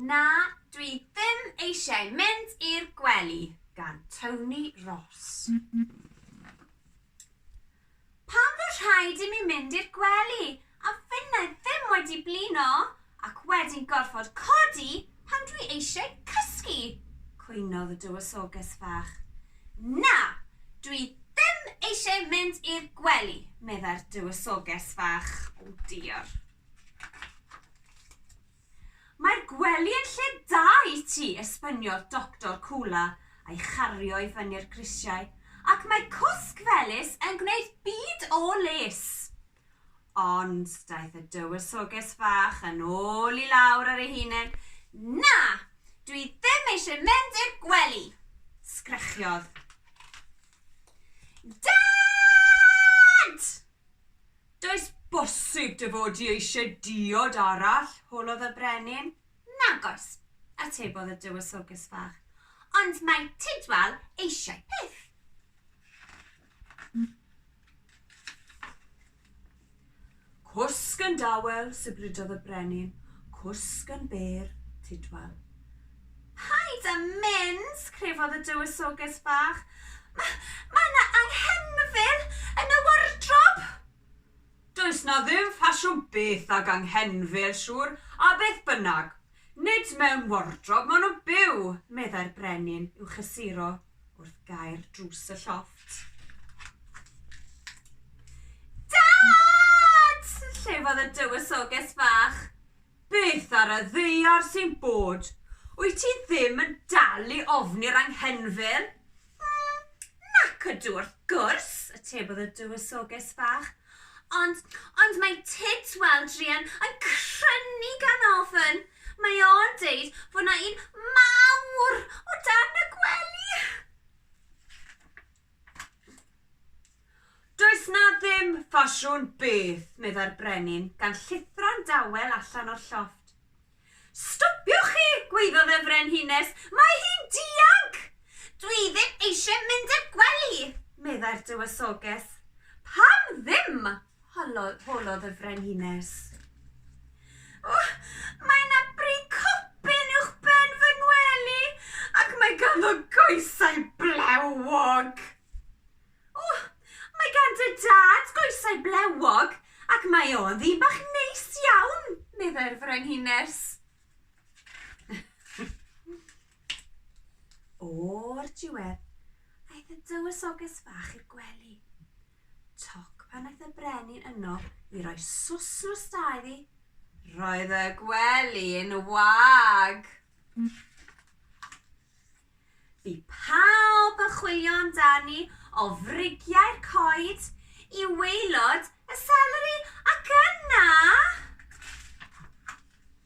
Na, dwi ddim eisiau mynd i'r gwely gan Tony Ross. Pam fod rhaid i mi mynd i'r gwely a finnau ddim wedi blino ac wedyn gorfod codi pan dwi eisiau cysgu? cwynodd y dywysoges fach. Na, dwi ddim eisiau mynd i'r gwely, meddai'r dywysoges fach. O diar. Mae'r gwely yn lle da i ti, esbyniodd Doctor Coola a'i chario i fyny'r grisiau, ac mae cwsg felys yn gwneud byd o les. Ond daeth y dywysoges fach yn ôl i lawr ar ei hunen. Na, dwi ddim eisiau mynd i'r gwely, sgrechiodd. Dad! Does bosib dy fod di eisiau diod arall? holodd y brenin. Nag oes, atebodd y Dywysoges Fach, ond mae Tidwal eisiau peth. Cwsg yn dawel, sibrydodd y brenin, cwsg yn bêr, Tidwal. Paid â mynd! crefodd y Dywysoges Bach. Ma, mae 'na anghenfil yn y wardrob! Does 'na ddim ffasiwn byth ag anghenfil, siŵr, a beth bynnag, nid mewn wardrob maen nhw'n byw, meddai'r brenin i'w chysuro wrth gau'r drws y llofft. Dad! llefodd y Dywysoges Bach. Beth ar y ddaear sy'n bod? Wyt ti ddim yn dal i ofni'r anghenfil? Mm, nac ydw, wrth gwrs, atebodd y Dywysoges Fach. Ond, ond mae Tyd, wel, druan, yn crynu gan ofn. Mae o'n deud fod 'na un mawr o dan y gwely! Does 'na ddim ffasiwn byth, meddai'r brenin, gan llithro'n dawel allan o'r llofft. Stopiwch chi! gwaeddodd y frenhines. Mae hi'n dianc! Dwi ddim eisiau mynd i'r gwely, meddai'r dywysoges. Pam ddim? Honnodd, holodd y frenhines. O, mae yna bri copyn uwch ben fy ngwely, ac mae ganddo goesau blewog. O, mae gan dy dad goesau blewog, ac mae o'n ddyn bach neis iawn, meddai'r frenhines. O'r diwedd, aeth y dywysoges fach i'r gwely. Toc pan aeth y brenin yno i roi swsn o sta iddi, roedd y gwely'n wag. Bu pawb yn chwilio amdani o frigiau'r coed i waelod y seleri ac yna...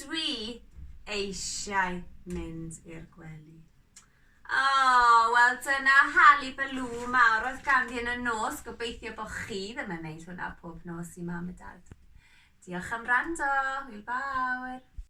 Dwi eisiau mynd i'r gwely. O, oh, wel dyna Hali Balw mawr oedd ganddi yn y nos. Gobeithio bod chi ddim yn wneud hwnna pob nos i mam a dad. Diolch am rando. Hwyl fawr.